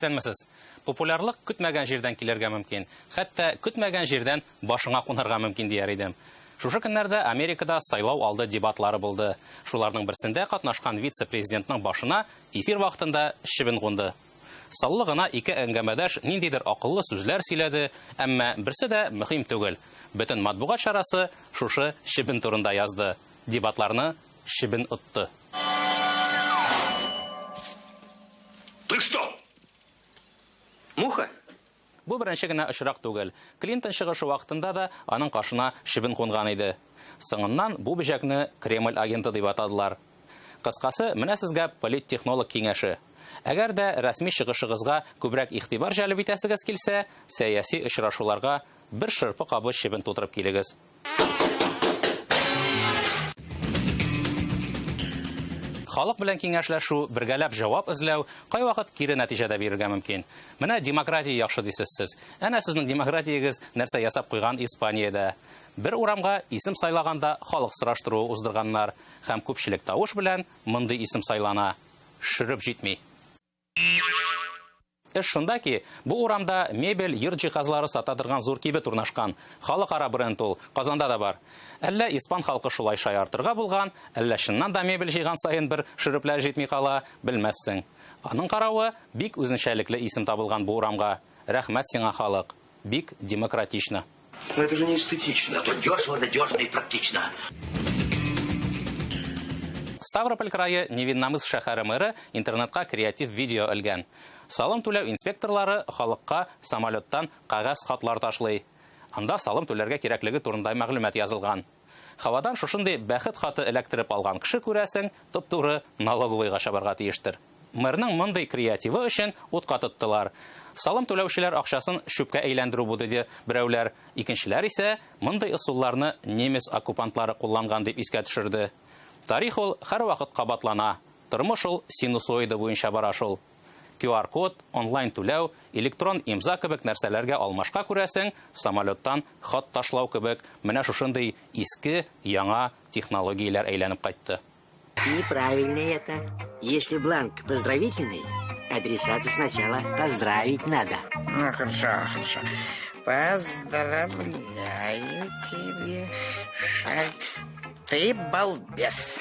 Исәнмесез! Популярлык көтмәгән җирдән килергә мөмкин. Хәтта көтмәгән җирдән башыңа кунарга мөмкин, дияр идем. Шушы көннәрдә Америкада сайлау алды дебатлары булды. Шуларның берсендә катнашкан вице-президентның башына эфир вакытында чебен кунды. Саллы гына ике әңгәмәдәш ниндидер акыллы сүзләр сөйләде, әмма берсе дә мөһим түгел. Бөтен матбугат чарасы шушы чебен турында язды. Дебатларны чебен отты. Ты что? Муха? Бу беренче генә очрак түгел. Клинтон чыгышы вакытында да аның кашына чебен кунган иде. Соңыннан бу бөҗәкне Кремль агенты дип атадылар. Кыскасы, менә сезгә политтехнолог киңәше. Әгәр дә рәсми чыгышыгызга күбрәк игътибар җәлеп итәсегез килсә, сәяси очрашуларга бер шырпы кабы чебен тутырып килегез. Халык белән киңәшләшү, бергәләп җавап эзләү кайвакыт кире нәтиҗә дә бирергә мөмкин. Менә демократия яхшы дисез сез. Әнә сезнең демократиягез нәрсә ясап куйган Испаниядә. Бер урамга исем сайлаганда халык сораштыруы уздырганнар һәм күпчелек тавыш белән мондый исем сайлана. Шөреп җитми. Эш шунда ки, бу урамда мебель, йорт җиһазлары сата торган зур кибет урнашкан. Халыкара бренд ул, Казанда да бар. Әллә испан халкы шулай шаяртырга булган, әллә чыннан да мебель җыйган саен бер шөрепләр җитми кала, белмәссең. Аның каравы, бик үзенчәлекле исем табылган бу урамга. Рәхмәт сиңа, халык! Бик демократично. Но это же не эстетично, зато дешево, надежно и практично. Ставрополь крае Невинномыс шәһәре мэры интернетка креатив видео элгән. Салым түләү инспекторлары халыкка самолеттан кәгазь хатлар ташлый. Анда салым түләргә кирәклеге турында мәгълүмат язылган. Һавадан шушындый бәхет хаты эләктереп алган кеше, күрәсең, туп-туры налоговыйга чабарга тиештер. Мэрның мондый креативы өчен утка тоттылар. Салым түләүчеләр акчасын чүпкә әйләндерү бу, диде берәүләр, икенчеләр исә мондый ысулларны немец оккупантлары кулланган дип искә төшерде. Тарих ул һәрвакыт кабатлана, тормыш ул синусоида буенча бара шул. QR-код, онлайн түләү, электрон имза кебек нәрсәләргә алмашка күрәсең, самолеттан хат ташлау кебек менә шушындый иске, яңа технологияләр әйләнеп кайтты. И правильный это. Если бланк поздравительный, адресату сначала поздравить надо. Ну, хорошо, хорошо. Поздравляю тебе, Шарль. Ты балбес.